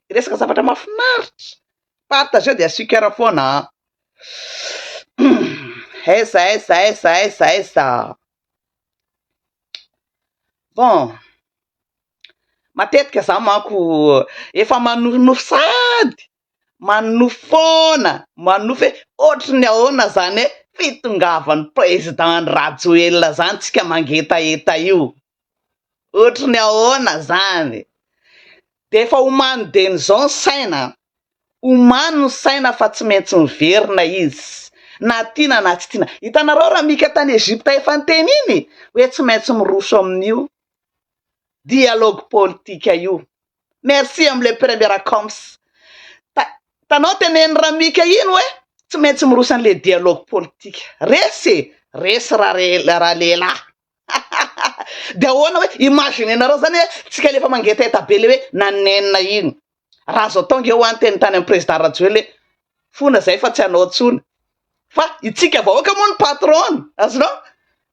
Hiresaka zavatra mahafinaritra. Partageo dia asio coeur foana a. Aiza aiza aiza aiza aiza. Bon. Matetika za manko efa manorinofy sady manonofy foana, manonofy hoe ohatry ny ahoana zany hoe fitongavan'ny président Rajoelina zany tsika mangetaheta io. Ohatry ny ahoana izany? Dia efa omano dieny izao ny saina an! Omano ny saina fa tsy maintsy miverina izy, na tiana na tsy tiana. Hitanareo raha Mika tany Egypta efa niteny iny hoe tsy maintsy miroso amin'io dialogue politika io. Merci amin'ilay Premiera Coms. Ta- Tanao teneniny raha Mika iny hoe tsy maintsy miroso an'ilay dialogue politika. Resy e! Resy raha re- raha lehilahy. de ahoana hoe imaginenareo zany hoe tsika lefa mangetaheta be le hoe nanenina iny raha azo atao nge hoany teny tany am president rajoely hoe fona zay fa tsy anao tsony fa itsika vahoaka moa ny patron azonao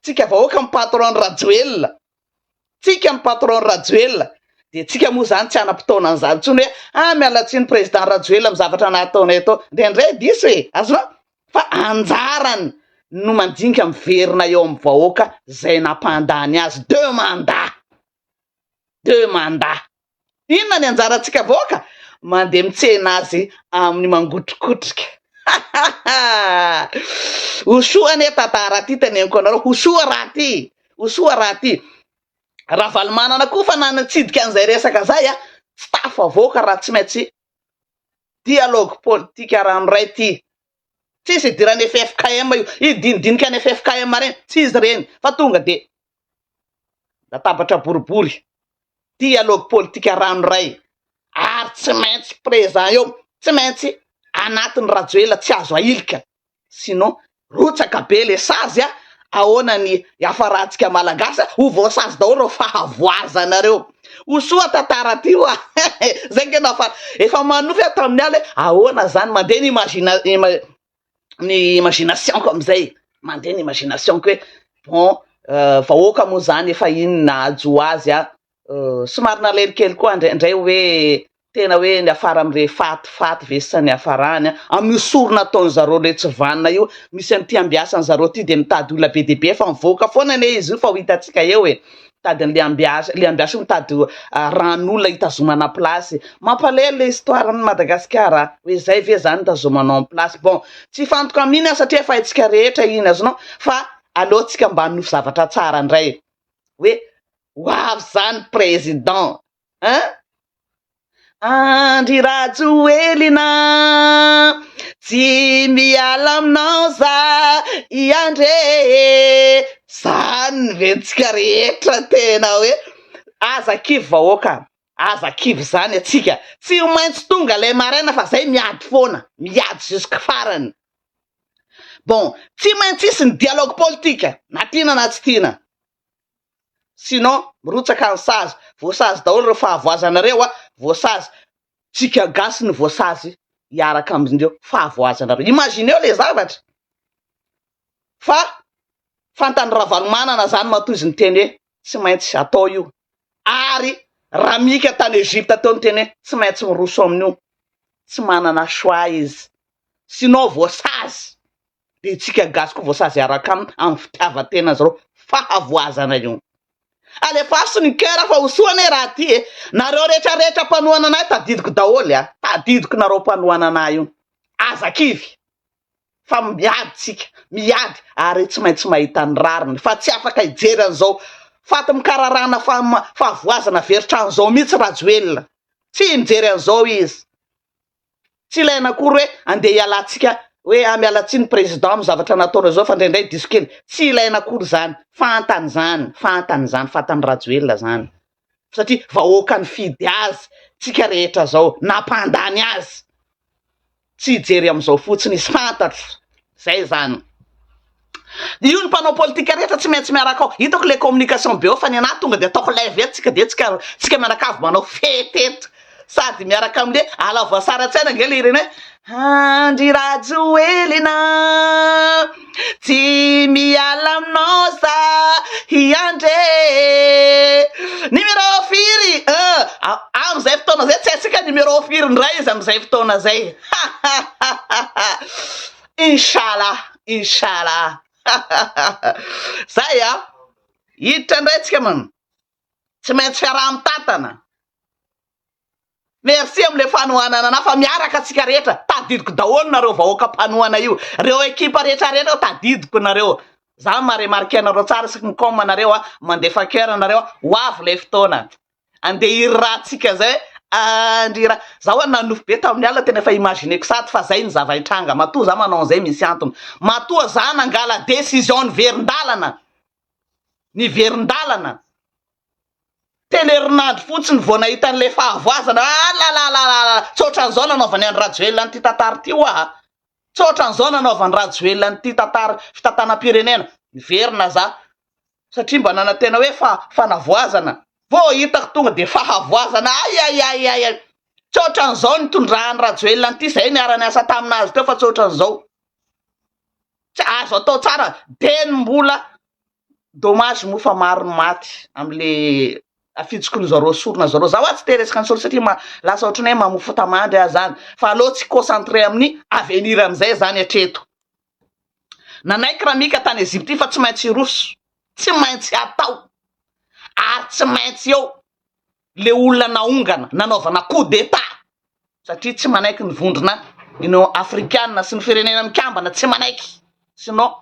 tsika vahoaka ny patron ny rajoelina tsika ny patron ny rajoelina de tsika moa zany tsy anam-potoana an'izany tsony hoe ah mialatsiny president rajoelina am zavatra nahataonay atao de ndray diso e azonao fa anjarany no mandinika miverina eo amin'ny vahoaka zay nampandany azy deux mandats deux mandats inona ny anjarantsika vahoaka mandeha mitsena azy amin'ny mangotrikotrika ho soa anie tantara ty teneniko anareo ho soa raha ty ho soa raha ty Ravalomanana koa fa nanitsidika an'izay resaka zay a tsy tafavoaka raha tsy maintsy Dialogue politique ranoray ty. Tsisy idiran'ny ffkm io. Io dinidinika an'ny ffkm reny, tsy izy reny. Fa tonga dia latabatra boribory, dialogue politique ranoray. Ary tsy maintsy présent eo, tsy maintsy anatiny Rajoelina tsy azo ahilika. sinon rotsaka be le sazy a! ahoana ny hiafarantsika malagasy a! ho voasazy daholo reo fahavoazanareo! ho soa tantara ty hoa he! zay nge nafa efa manofy aho tamin'ny alina hoe ahoana zany mandeha ny imagina- ima- ny imagination-ko amizay mandeha ny imagination-ko hoe bon vahoaka moa zany efa iny nahajo azy a! Somary nalahelo kely koa aho indraindray hoe tena hoe niafara amin'irey faty faty ve sisa niafarany an! Amin'io sorona ataon'i zareo ilay tsy vanona io, misy an'ity ambiasan'i zareo ity dia mitady olona be dia be fa mivoaka foana anie izy io fa ho hitantsika eo e! Mitady an'ilay ambiasa, ilay ambiasa io mitady ran'olona hitazomana place. Mampalahelo ilay histoire an'i Madagasikara a! Hoe izay ve izany itazomanao ny place? Bon, tsy hifantoka amin'iny aho satria efa haintsika rehetra iny azonao fa aleotsika mba hanohy zavatra tsara indray hoe Ho avy zany président hein. Andry Rajoelina Tsy miala aminao za i Andry e Zany ve ntsika rehetra tena hoe Aza kivy vahoaka Aza kivy zany atsika Tsy ho maintsy tonga lay maraina fa zay miady foana Miady jusque farany Bon Tsy maintsy hisy ny dialogue politique Na tiana na tsy tiana sinon mirotsaka any sazy, voasazy daholo ireo fahavoazanareo a, voasazy, tsika gasy no voasazy hiaraka amin'ireo fahavoazanareo, imagineo le zavatra fa fantany Ravalomanana zany matoa izy niteny hoe tsy maintsy atao io ary ramika tany Egypte teo niteny hoe tsy maintsy miroso amin'io, tsy manana choix izy sinon voasazy. dia isika gasy koa voasazy araka an amin'ny fitiavan-tena azy ireo fahavoazana io. Alefaso ny cœur fa ho soa anie raha ty e! Nareo rehetra rehetra mpanohana anay tadidiko daholo a! Tadidiko nareo mpanohana anay io! Aza kivy fa miady tsika, miady are tsy maintsy mahita ny rariny fa tsy afaka hijery an'izao faty mikararana fahavoazana very trano izao mihitsy Rajoelina! Tsy mijery an'izao izy! Tsy ilaina akory hoe andeha hialantsika hoe miala tsiny président amin'ny zavatra nataonao izao fa indraindray diso kely. Tsy ilaina akory izany. Fantany izany, fantany izany, fantan'i Rajoelina izany satria vahoaka nifidy azy, tsika rehetra izao nampandany azy. Tsy hijery amin'izao fotsiny izy, fantatro izay izany. Io ny mpanao politika rehetra tsy maintsy miaraka ao. Hitako le communication be ao fa nenaha tonga de ataoko live eto tsika de tsika tsika mianakavy manao fety eto. Sady miaraka amle ala voasary an-tsaina ange le ireny hoe Andry Rajoelina tsy miala aminao za hiandry numéro firy ah, amin'izay fotoana zay tsy haintsika numéro firy indray izy amin'izay fotoana zay Inchalah inchalah zay a hiditra ndray tsika man tsy maintsy fiaraha mitantana merci amle fanohanana anah fa miaraka tsika rehetra tadidiko daholo nareo vahoaka mpanohana io reo ekipa rehetra rehetra ao tadidiko nareo za maremarque anareo tsara isaky ny com anareo a mandefa coeur anareo a ho avy le fotoana Andeha hirahantsika zay an ry ra. Zaho an nanofy be tamin'ny alina tena efa imagineko sady fa zay ny zava-hitranga. Matoa za manao an'izay misy antony. Matoa za nangala décision niverin-dalana. Niverin-dalana. Telo herinandro fotsiny vao nahita an'ilay fahavoazana. Alalalalala. Tsy ohatran'izao nanaovan'i Andry Rajoelina an'ity tantara ity ho'a. Tsaotra an'izao nanaovan'i Rajoelina an'ity tantara fitantanam-pirenena, niverina za satria mba nanantena hoe fa fanavoazana, vao hitako tonga dia fahavoazana, aiaiaiaiai, tsaotra an'izao nitondrahan'i Rajoelina an'ity, zay niara-niasa tamina azy teo fa tsaotra an'izao, tsy azo atao tsara, dia ny mbola Dommage moa fa maro ny maty amle afitsikin'ny zareo sorona zareo, za wa tsy te resaka ny sorona satria ma lasa ohatry ny hoe mamofotamandry ah zany fa aleo tsy concentré amin'ny avenir amzay zany hatreto, nanaiky ramika tany Egypte fa tsy maintsy hiroso, tsy maintsy hatao ary tsy maintsy eo. le olona naongana nanaovana coup d'etat satria tsy manaiky ny vondrona union afrikana sy ny firenena mikambana tsy manaiky sinon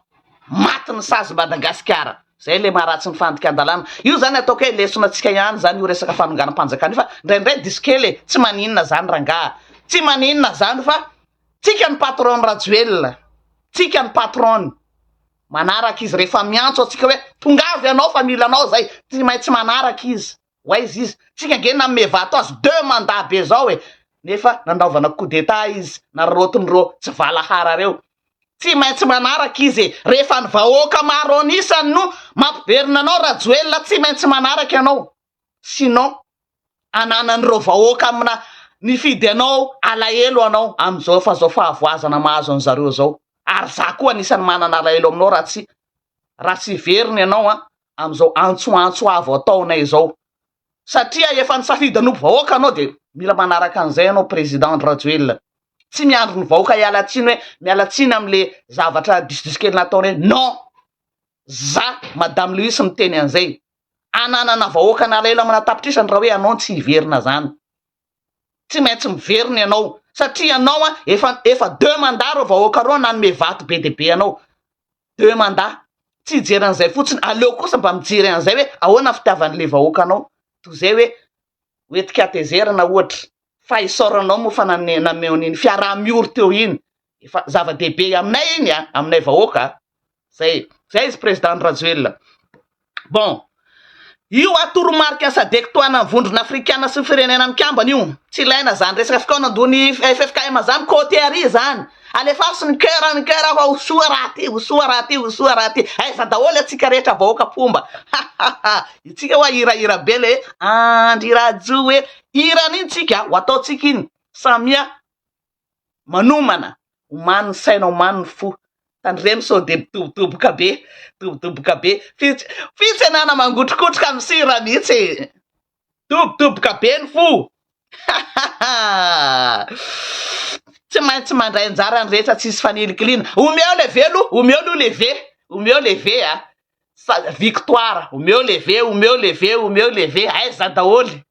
maty ny sazy Madagasikara zay le maharatsy ny fandikan-dalàna io zany ataoko hoe lesona antsika ihany zany io resaka fanonganam-panjakana io fa ndraindray diso kely e tsy maninona zany rangaha tsy maninona zany fa tsika ny patron Rajoelina tsika ny patron manaraka izy rehefa miantso antsika hoe tongavy anao fa mila anao zay tsy maintsy manaraka izy ho aiza izy? Tsika ange nanome vato azy deux mandats be zao e! Nefa nanaovana coup d'Etat izy nararaotin'ireo tsy valahara reo. Tsy maintsy manaraka izy e! Rehefa ny vahoaka maro anisany no mampiverina anao Rajoelina tsy maintsy manaraka ianao! Sinon ananan'ireo vahoaka amina nifidy anao alahelo anao amin'izao fa zao fahavoazana mahazo an'zareo zao! Ary za koa anisany manana alahelo aminao raha tsy raha tsy hiverina ianao an! amin'izao antsoantso avo ataonay izao satria efa nisafidy hanompo vahoaka anao dia mila manaraka an'izay ianao président Rajoelina tsy miandry ny vahoaka hiala tsiny hoe miala tsiny amin'le zavatra diso-diso kely nataony hoe non za madame Louis miteny an'izay ananana vahoaka nalaelo amina tapitrisa ny raha hoe ianao no tsy hiverina zany tsy maintsy miverina ianao satria ianao an efa efa deux mandats ireo vahoaka ireo nanome vato be dia be anao, deux mandats, tsy hijery an'izay fotsiny, aleo kosa mba mijery an'izay hoe ahoana fitiavan'ilay vahoaka anao, toy izay hoe ho entin-katezerana ohatra, fa isaoranao moa fa nanome an'iny fiaraha-miory teo iny, efa zava dehibe aminay iny a aminay vahoaka a zay zay izy président andry rajoelina bon io a toromarika sadec tohanan'ny vondrona afrikana sy ny firenena mikambana io tsy ilaina zany resaka fikaona doany ffkm zany côté ary zany alefaso ny cœur ny cœur fa ho soa raha ty ho soa raha ty ho soa raha ty aiza daholo atsika rehetra vahoaka pomba hahaha itsika hoa hirahira be le andry rajo hoe hiran'iny tsika ho ataontsika iny samia Manomana, omano ny saina omano ny fo, tandremo sao dia midobodoboka be, midobodoboka be, fits, fitsenana mangotrokotroka amin'ny sira mihitsy e! Midobodoboka be ny fo! Hahaha! Tsy maintsy mandray anjara ny rehetra tsisy fanilikiliana, omeo le ve aloha, omeo aloha le ve, omeo le ve a! Sa- victoire, omeo le ve, omeo le ve, omeo le ve, aiza daholo e!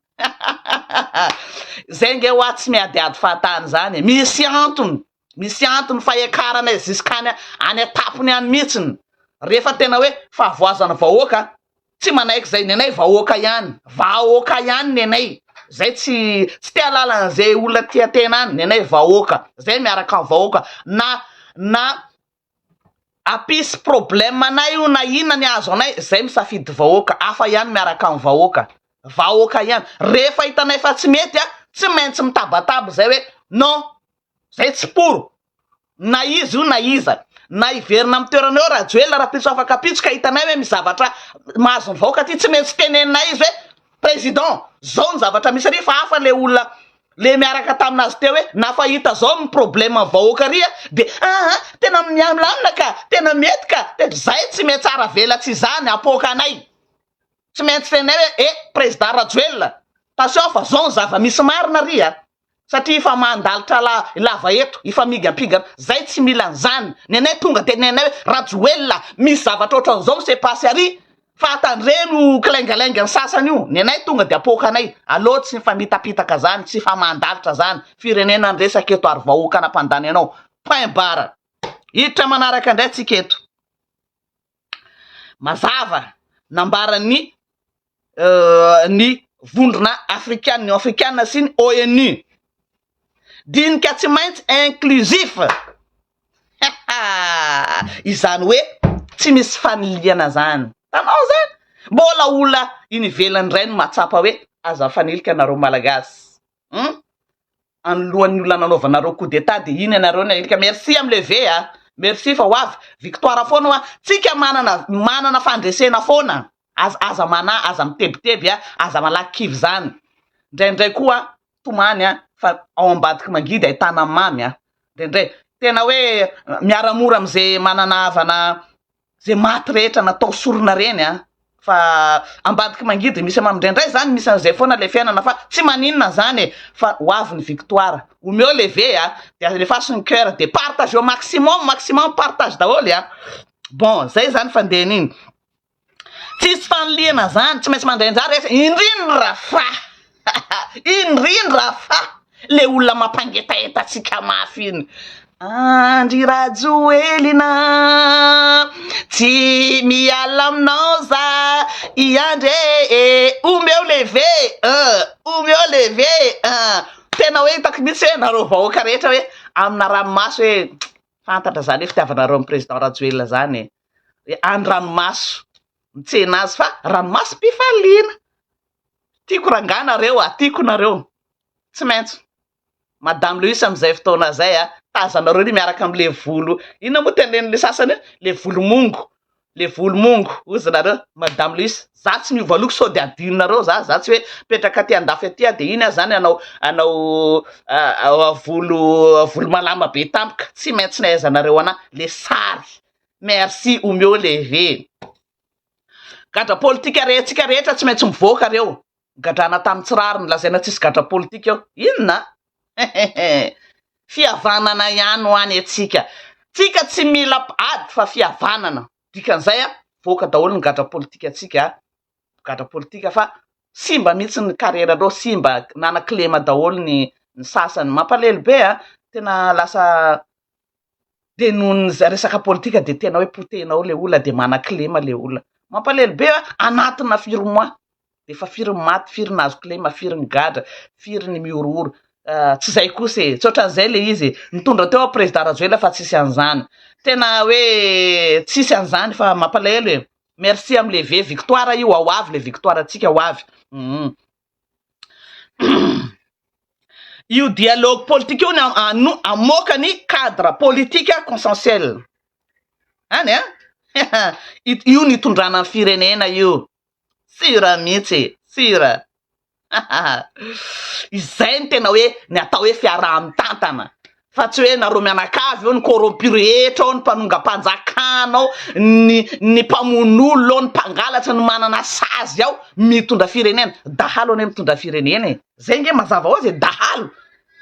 Zay nge hoa tsy miadiady fahatany zany e, misy antony, misy antony fa iakaranay ziskany any atapony any mitsiny, refa tena hoe fahavoazana vahoaka a, tsy manaiky zay, nenay vahoaka ihany, vahoaka ihany nenay, zay tsy tsy te alala anze olona tia tena any, nenay vahoaka, zay miaraka am vahoaka, na na Apisy problème anay io na inona ny azo anay zay misafidy vahoaka afa ihany miaraka am vahoaka vahoaka ihany rehefa hitanay fa tsy mety a tsy maintsy mitabataba zay hoe non zay tsy pour na izy io na iza na hiverina am toerana eo rajoelina rapitso afaka pitso ka hitanay hoe misy zavatra mahazo ny vahoaka aty tsy maintsy tenenina izy hoe président zao ny zavatra misy ary fa afa le olona le miaraka taminazy teo hoe na fa hita zao ny problème ny vahoaka ry a de aa tena miamilamina ka tena mety ka te zay tsy me tsara vela tsy zany apoaka anay tsy maintsy renay hoe e président rajoelina taseo fa zao ny zava misy marina ry a satria efa mandalitra la lava eto efa migampigana zay tsy mila an'zany nenay tonga de nenay hoe rajoelina misy zavatra ohatran'zao mi se pasy ary Fahatandremo io kilaingalaingany sasany io, ny anay tonga dia apoaka anay, aleo tsy mifamitapitaka zany, tsy hifamandalitra zany, firenena ny resaka eto ary vahoaka nampandany anao, point barre. Hiditra manaraka indray tsika eto. Mazava, nambaran'ny ny vondrona afrikana, union afrikana sy ny ONU. Dinika tsy maintsy inclusif. izany hoe tsy misy fanilihana zany hitanao zany mbola olona iny ivelany indray no mahatsapa hoe aza mifanilika nareo malagasy hum anoloan'ny olona nanaovanareo coup d'etat dia iny ianareo no ahilika merci am leve a merci fa ho avy victoire foana hoa tsika manana manana fandresena foana aza aza manà aza mitebiteby a aza malaky kivy zany indraindray koa tomany an, fa ao ambadiky mangidy ahitana mamy an, indraindray tena hoe miara mora amizay manana havana zay maty rehetra natao sorona reny an, fa ambadiky mangidy misy mamy indraindray zany misy anizay foana le fiainana fa tsy maninona zany e, fa ho avy ny victoire, omeo leve a, de alefaso ny coeur de partageo maximum maximum partage daholo a, bon zay zany fandehany iny. Tsisy fanilihana zany, tsy maintsy mandray anjara izy, indrindra fa indrindra fa le olona mampangetaheta antsika mafy iny, Andry Rajoelina tsy miala aminao za i Andry e, omeo leve e, omeo leve e, tena hoe hitako mihitsy hoe nareo vahoaka rehetra hoe amina ranomaso hoe fantatra zany hoe fitiavanareo an'i président Rajoelina zany e. any ranomaso mitsena azy fa ranomasom-pifaliana tiako rangah nareo ah tiako nareo tsy maintsy madame Luis amin'izay fotoana izay ah tazanareo ny miaraka amin'le volo inona moa tenen'le sasany hoe le volo mongo le volo mongo ozy nareo madame Luis za tsy miova loko sao de adinonareo za za tsy hoe petraka aty andafy aty ah de iny ah zany anao anao volo volo malama be tampoka tsy maintsy nahaizanareo anah le sary Merci Omeo Leve. Gadra politika rehentsika rehetra tsy maintsy mivoaka reo. Gadrana tamin'ny tsy rariny lazaina tsisy gadra politika eo. Inona? Fihavanana ihany ho any antsika. Tsika tsy mila ady fa fihavanana. Dikan'izay a, voaka daholo ny gadra politika tsika a. Gadra politika fa simba mihitsy ny carrière reo, simba nana kilema daholo ny ny sasany. Mampalelo be a. Tena lasa dia noho ny izay resaka politika dia tena hoe potehina ao ilay olona dia manakilema ilay olona. Mampalahelo be a! Anatina firy mois dia efa firy ny maty, firy ny azo kilema, firy ny gadra, firy ny mihorohoro. Tsy izay kosa e, tsy ohatran'izay ilay izy e, nitondra teo aho prezida Rajoelina fa tsisy an'izany. Tena hoe tsisy an'izany fa mampalahelo e. Merci amin'ilay ve victoire io, ao avy ilay victoire antsika, ho avy. Hum. Io dialogue politika io no hamoaka ny cadre politika consensuel any an! Io no hitondrana ny firenena io, sur mihitsy e! Sur hahaha! Izay no tena hoe ny atao hoe fiaraha-mitantana fa tsy hoe nareo mianakavy eo ny corrompu rehetra ao, ny mpanongam-panjakana ao, ny ny mpamono olona ao, ny mpangalatra, ny manana sazy ao, mitondra firenena. Dahalo anie mitondra firenena e! Zay nge mazava hoazy e! Dahalo!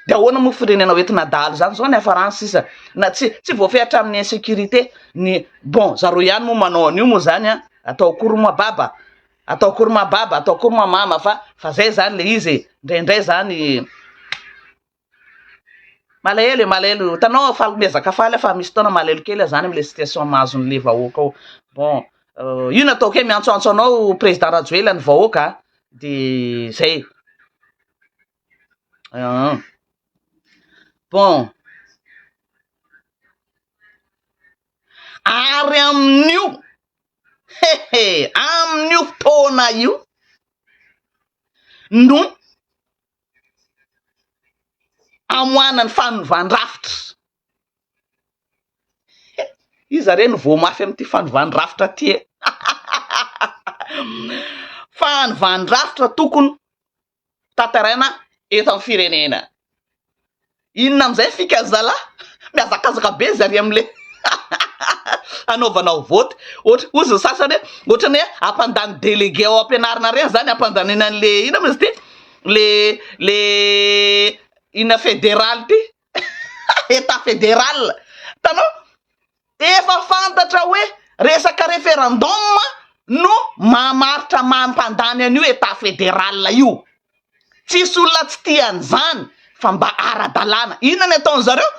De ahoana moa firenena hoentina dahalo zany zao ny hafarany sisa? Na tsy tsy voafehatra amin'ny insecurite ny bon zareo ihany moa manao an'io moa zany an! Atao akory moa baba? Atao akory ma baba? Atao akory ma mama? Fa fa zay zany le izy e! Ndraindray zany Malahelo e malahelo hitanao aho faly miezaka faly aho fa misy fotoana malahelo kely aho zany amle situation mahazo ny le vahoaka ao bon io no ataoko hoe miantsoantso anao président Rajoelina ny vahoaka de zay ah bon ary amin'io hehe amin'io fotoana io no hamoahana ny fanovàn-drafitra. Iza re no voamafy amin'ity fanovàn-drafitra ity e? Fanovàn-drafitra tokony tantaraina eto amin'ny firenena. Inona amizay fika zalah? Mihazakazaka be zary amle hanaovanao vote. Ohatra hozy ny sasany hoe ohatrany hoe hampandany délégué ao ampianarina ireny zany hampandanina anle inona moa izy ity? Le le inona fédéral ity? Etat fédéral. Hitanao? dia efa fantatra hoe resaka referendum no mamaritra maha mpandany an'io état fédéral io, tsisy olona tsy tia an'izany fa mba ara-dalàna, inona ny ataon'ny zareo?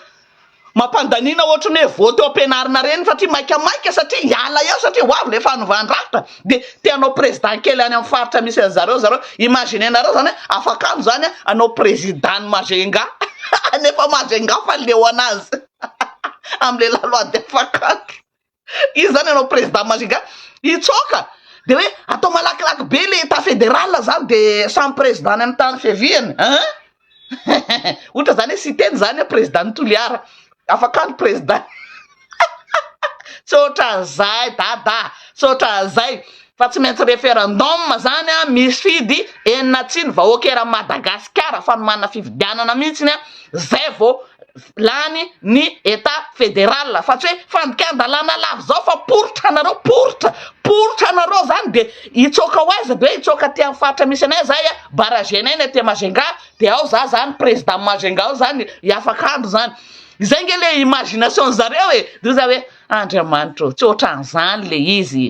mampandaniana ohatry ny hoe vao teo ampianarina reny fa try maika maika satria hiala eo satria ho avy ilay fanovan-drafitra dia te hanao président kely any amin'ny faritra misy an'i zareo zareo, imaginez-nareo izany hoe afak'andro izany hanao président an'i Majunga nefa Majunga fa leo an'azy. Amle la loi de afakandro izy zany anao président majinga hitsoaka de hoe atao malakilaky be le état fédéral zany de samy président any amin'ny tany fiaviany hein ohatra zany hoe siteny zany hoe président ny toliara afakandro président tsy ohatran'izay dada tsy ohatran'izay Fa tsy maintsy referendum izany an, mifidy enina tsy ny vahoaka eran'i Madagasikara fa nomanina fifidianana mihitsiny an, izay vao lany ny Etat federal fa tsy hoe fandikan-dalàna lava izao fa poritra anareo, poritra, poritra anareo izany dia hitsoaka ho aiza ve, hitsoaka aty amin'ny faritra misy anay izahay an, barrage-nay ny aty Majunga dia ao izaho izany président Majunga ao izany i Afakandro izany, izay nge ilay imagination-ndry zareo e, dia hoy izaho hoe Andriamanitra ô, tsy ohatran'izany ilay izy.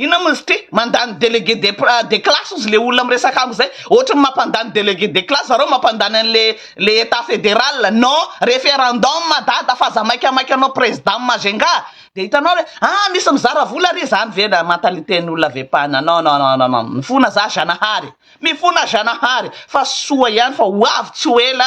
Inona moa izy ity? Mandany délégué de de classe ozy le olona miresaka amiko zay. Ohatry ny mampandany délégué de classe zareo mampandany an'le le état fédéral. Non, référendum dada f'aza maika maika anao président Majunga de hitanao le ah misy mizara vola ry zany ve na mentalité ny olona avy pan. Non non non non non mifona za Zanahary mifona Zanahary fa soa ihany fa ho avy tsy ho ela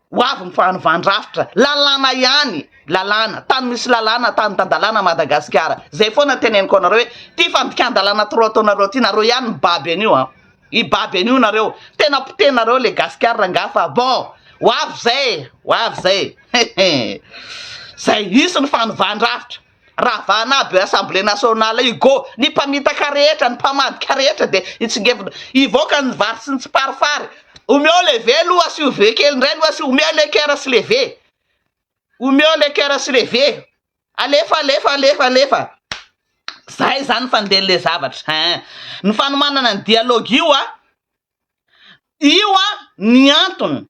Ho avy ny fahanovan-drafitra, lalàna ihany, lalàna, tany misy lalàna, tany tan-dalàna Madagasikara. Izay foana ny teneniko anareo hoe, ity fandikan-dalàna trop ataonareo ity, nareo ihany mibaby an'io an! Hibaby an'io nareo, tena potehinareo ilay Gasikara angaha fa bon! Ho avy izay e! Ho avy izay e! He he! Izay hisy ny fahanovan-drafitra! Ravana aby eo assemblée nationale io go ny mpamitaka rehetra ny mpamadika rehetra dia hitsingevina hivoaka ny vary sy ny tsiparifary omeo leve aloha asio ve kely indray aloha asio omeo le coeur sy leve omeo le coeur sy leve alefa alefa alefa alefa zay zany fandeha le zavatra hein ny fanomanana ny dialogue io a io a ny antony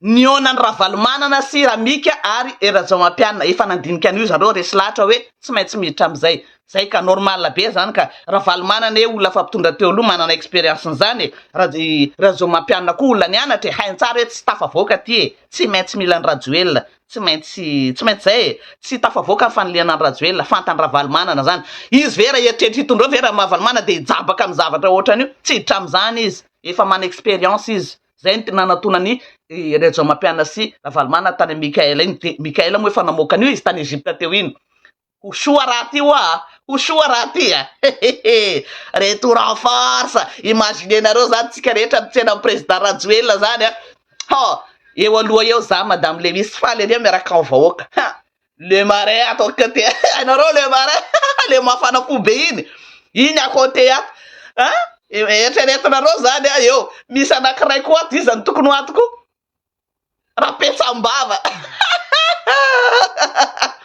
nihaona an'i Ravalomanana sy Ramika ary i Rajaomampianina efa nandinika an'io zareo resy lahatra hoe tsy maintsy miditra amizay zay ka normal be zany ka Ravalomanana e olona fa mpitondra teo aloha manana experience n'izany e Raj i Rajaomampianina koa olona nianatra e hainy tsara hoe tsy tafavoaka aty e tsy maintsy mila an'i Rajoelina tsy maintsy tsy maintsy zay e tsy tafavoaka ny fanilihana an'i Rajoelina fantan'i Ravalomanana zany izy ve raha eritreritra hitondra eo ve Ravalomanana dia hijabaka amin'ny zavatra ohatran'io tsy hiditra amizany izy efa mana experience izy Izay no nanatona an'i Rejomampianina sy Ravalomanana tany amin'i Mickaël iny, dia Mickaël moa efa namoaka an'io izy tany Egypta teo iny. Ho soa raha ty hoa a! Ho soa raha ty a! Hehehe! Retour en force! Imaginez-nareo zany tsika rehetra mitsena an'i Président Rajoelina zany a! Hoo! Eo aloha eo za Madame Lewis faly anio miaraka amin'ny vahoaka! Ha! Le marin ato à côté hainareo le marin le mafana fo be iny iny à côté ato a eritreretinareo zany a eo misy anankiray koa ato iza no tokony ho ato koa rapetsam-bava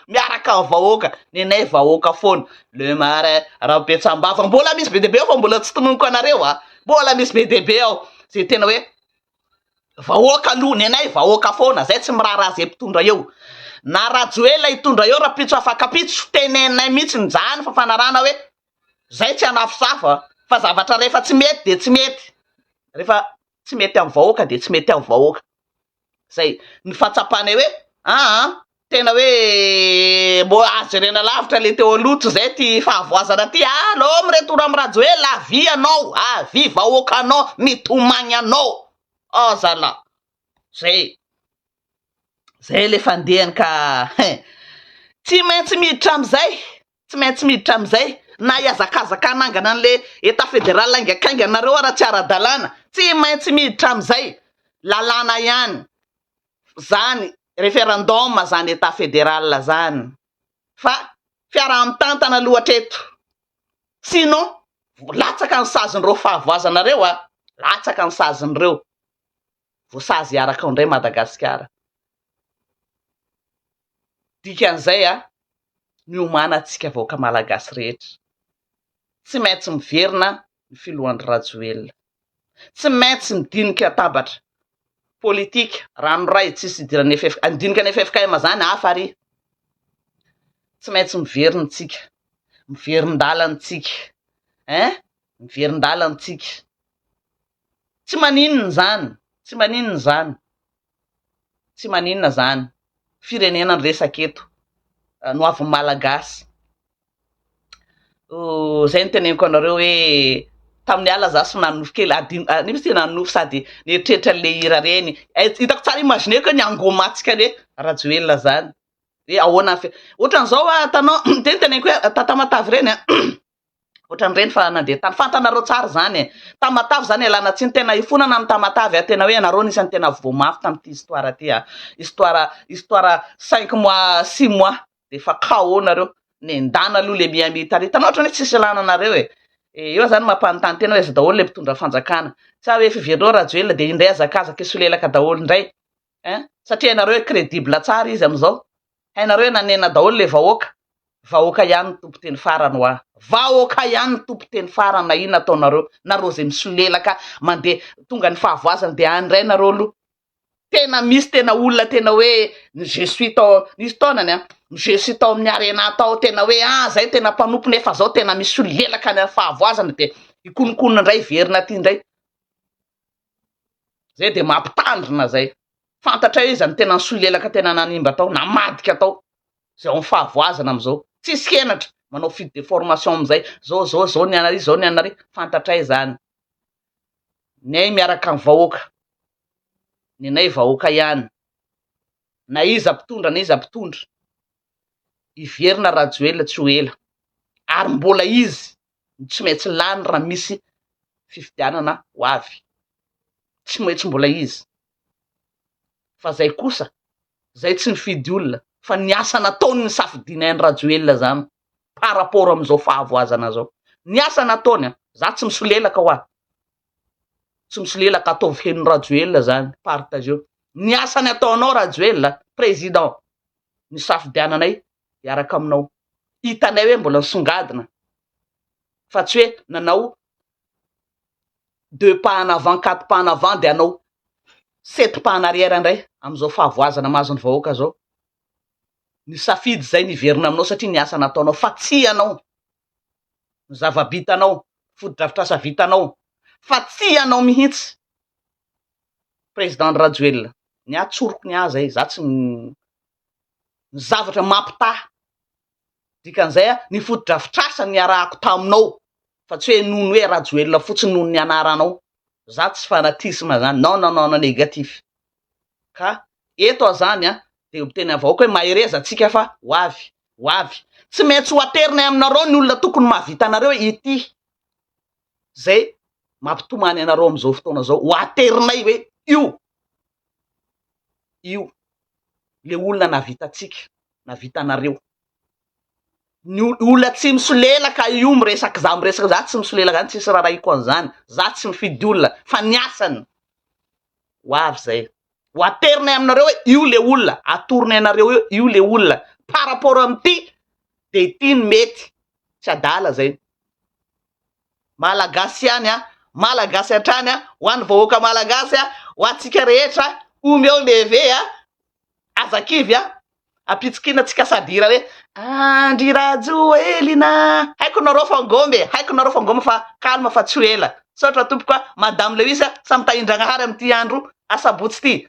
miaraka amin'ny vahoaka nenay vahoaka foana le marin rapetsam-bava mbola misy be dia be ao fa mbola tsy tononiko anareo a mbola misy be dia be ao zay tena hoe vahoaka aloha, ny anay vahoaka foana, zay tsy miraharaha ze mpitondra eo, na Rajoelina hitondra eo, rapitso afakapitso, teneninay mihitsy ny zany fa fanarahana hoe zay tsy hanafosafo a, fa zavatra rehefa tsy mety de tsy mety, rehefa tsy mety amin'ny vahoaka de tsy mety amin'ny vahoaka, zay, ny fahatsapanay hoe aa, Tena hoe mbô azo jerena lavitra le teo aloha tsy zay ty fahavoazana aty a allo mireto ram rajoel a vy anao a vy vahoakanao mitomagny anao ah zala zay zay le fandehany ka hein tsy maintsy miditra amizay tsy maintsy miditra amizay na hiazakazaka hanangana anle etat federal haingankaingana nareo ara tsy aradalana tsy maintsy miditra amizay lalàna ihany zany referendum zany etat federal zany fa fiaraha mitantana aloha hatreto sinon latsaka ny sazin'ireo fahavoazana reo a, latsaka ny sazin'ireo vao sazy hiaraka ao indray Madagasikara, dikan'izay a miomana atsika vahoaka Malagasy rehetra. Tsy maintsy miverina ny filoha Andry Rajoelina. Tsy maintsy midinika latabatra politika, ranoray tsisy idiran'ny ffkm, ny dinikan'ny ffkm izany hafa ary. Tsy maintsy miverina tsika, miverin-dalana tsika eh, miverin-dalana tsika. Tsy maninona izany, tsy maninona izany. tsy maninona zany, firenena no resaka eto no avy Malagasy, zay no teneniko anareo hoe tamin'ny alina za somary nofy kely, adino, nefa izy tena nofy sady nieritreritra an'le hira reny, hitako tsara imagineko hoe ny angomantsika le Rajoelina zany, hoe ahoana ny fiainana, otran'izao an, hitanao, de ny teneniko hoe tata matavy reny an, Ohatran'ireny fa nandeha tany. Fantanareo tsara izany e. Tamatave zany ialana tsiny. Tena ifonana ny Tamatave a. Tena hoe ianareo anisan'ny tena voa mafy tamin'ity histoire ity a. Histoire histoire cinq mois six mois dia efa KO nareo. Nendana aloha le Miami Italy. Hitanao ohatran'ny hoe tsisy ialana anareo e. E eo zany mampanontany tena hoe aiza daholo le mpitondra fanjakana. Sa hoe fiverindreo Rajoelina dia indray hazakazaka hisolelaka daholo indray. Hein satria hainareo hoe credible tsara izy amizao, hainareo hoe nanena daholo le vahoaka, vahoaka ihany ny tompo teny farany hoa, vahoaka ihany ny tompo teny farany na inona ataonareo, nareo ze misolelaka mande tonga ny fahavoazana de any ndray nareo aloha, tena misy tena olona tena hoe ni je suis tao nisy fotoanany an, ni je suis tao amin'ny arena tao tena hoe ah zay tena mpanompo nefa zao tena misolelaka any amin'ny fahavoazana de ikononkonona ndray hiverina aty ndray, Zay dia mampitandrina zay. Fantatray izy zany tena nisolelaka tena nanimba tao, namadika tao. Zay ao amin'ny fahavoazana amin'izao. Tsisy henatra, manao fil de formation amin'izay. Zao zao zao ny anaré, zao ny anaré. Fantatray zany. Ny ahy miaraka amin'ny vahoaka. Ny anay vahoaka ihany. Na iza mpitondra na iza mpitondra. Hiverina Rajoelina tsy ho ela. Ary mbola izy no tsy maintsy lany raha misy fifidianana ho avy, tsy maintsy mbola izy, fa zay kosa zay tsy nifidy olona fa ny asa nataony nisafidiana i Andry Rajoelina zany par rapport amin'izao fahavoazana zao, ny asa nataony an, za tsy misolelaka hoa, tsy misolelaka ataovy henon'i Rajoelina zany, partageo, ny asany ataonao Rajoelina président, nisafidiananay hiaraka aminao. Hitanay hoe mbola nisongadina fa tsy hoe nanao deux pas en avant quatre pas en avant dia hanao sept pas en arrière indray amin'izao fahavoazana mahazo ny vahoaka izao. Ny safidy izay niverina aminao satria ny asa nataonao fa tsy ianao. Ny zava-bitanao, fotodrafitrasa vitanao fa tsy ianao mihitsy. Président Rajoelina, ny ahy tsoriko ny ahy izay, izaho tsy ny zavatra mampitaha, dikan'izay a, ny fotodrafitrasa niarahako taminao fa tsy hoe noho ny hoe Rajoelina fotsiny noho ny anaranao, za tsy fanatisme zany, non non non negatif, ka eto ah zany a dia ho teny avahoaka hoe mahereza tsika fa ho avy, ho avy, tsy maintsy ho aterinay aminareo ny olona tokony mahavita anareo ity zay mampitomany anareo amizao fotoana zao, ho aterinay hoe io io le olona navitantsika navitanareo ny olona tsy misolelaka io miresaka za miresaka za tsy misolelaka zany tsisy rarahiko an'zany za tsy mifidy olona fa ny asany ho avy zay ho aterinay aminareo hoe io le olona atoronay anareo eo io le olona par rapport amty de ity ny mety tsy adala zay Malagasy ihany an! Malagasy hatrany an! Ho an'ny vahoaka Malagasy an! Ho antsika rehetra an! Omeo leve an! Aza kivy an! Ampitsikina tsika sady hira hoe Andry Rajoelina Haiko nareo fa ngomba e! Haiko nareo fa ngomba fa calme fa tsy ho ela! Misaotra tompoko an! Madame Lewis an! Samy tahin-dragnahary amin'ity andro asabotsy ity!